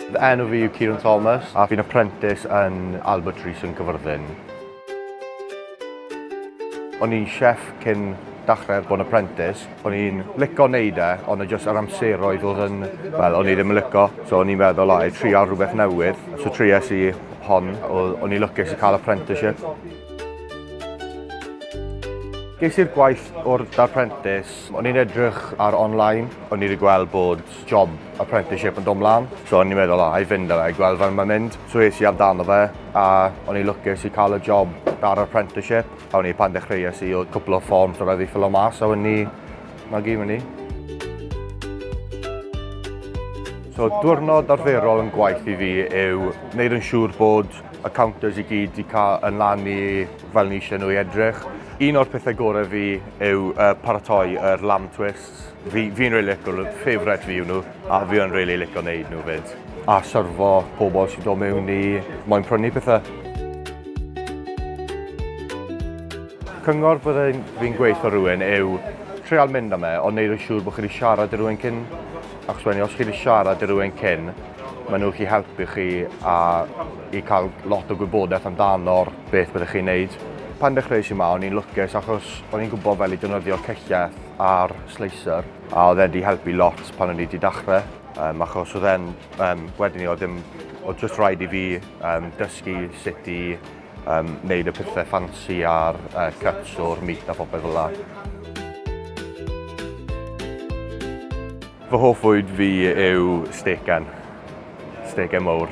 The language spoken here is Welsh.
Fy enw fi yw Kieran Thomas a fi'n apprentice yn Albert Rees yn Cyfyrddin. O'n i'n chef cyn dachrau bod yn apprentice. O'n i'n lico wneud e, ond o'n jyst yr amseroedd oedd yn... Wel, o'n i ddim yn lico, so o'n i'n meddwl, o, i trial rhywbeth newydd. So trias i hon, o'n i'n lwcus i cael apprenticeship. Ges i'r gwaith o'r darprentis. O'n i'n edrych ar online, o'n i wedi gweld bod job apprenticeship yn dod mlaen. So o'n i'n meddwl, o, i fynd â fe, i gweld fan mae'n mynd. So es i amdano fe, a o'n i lwcus i cael y job ar apprenticeship. A o'n i pan dechreuais i, oedd cwpl o fforms o rhaid i ffilo mas, a o'n i, na gyd fyny. So diwrnod arferol yn gwaith i fi yw wneud yn siŵr bod y counters i gyd i cael yn lan i fel ni eisiau nhw i edrych. Un o'r pethau gorau fi yw uh, paratoi yr er lamb twists. Fi'n fi, fi really licio nhw, favourite fi yw nhw, a fi yn really licio wneud nhw fyd. A syrfo pobl sy'n dod mewn i moyn prynu pethau. Cyngor byddai'n fi'n gweithio rhywun yw treol mynd am e, ond neud yn siŵr bod chi wedi siarad i rhywun cyn Achos wedyn os chi wedi siarad i rywun cyn, maen nhw'n gallu helpu chi a i cael lot o gwybodaeth amdano'r beth byddwch chi'n neud. Pan dechreuais i yma o'n i'n lwcus achos o'n i'n gwybod fel i defnyddio cellell a'r slicer a oedd e'n di helpu lot pan o'n i di dachre um, achos oedd e'n um, wedyn i oedd ddim oedd just rhaid i fi um, dysgu sut i um, wneud y pethau ffansi a'r uh, cuts o'r meat a phopeth fel la. Fy hoff fwyd fi yw stegan, stegan mawr.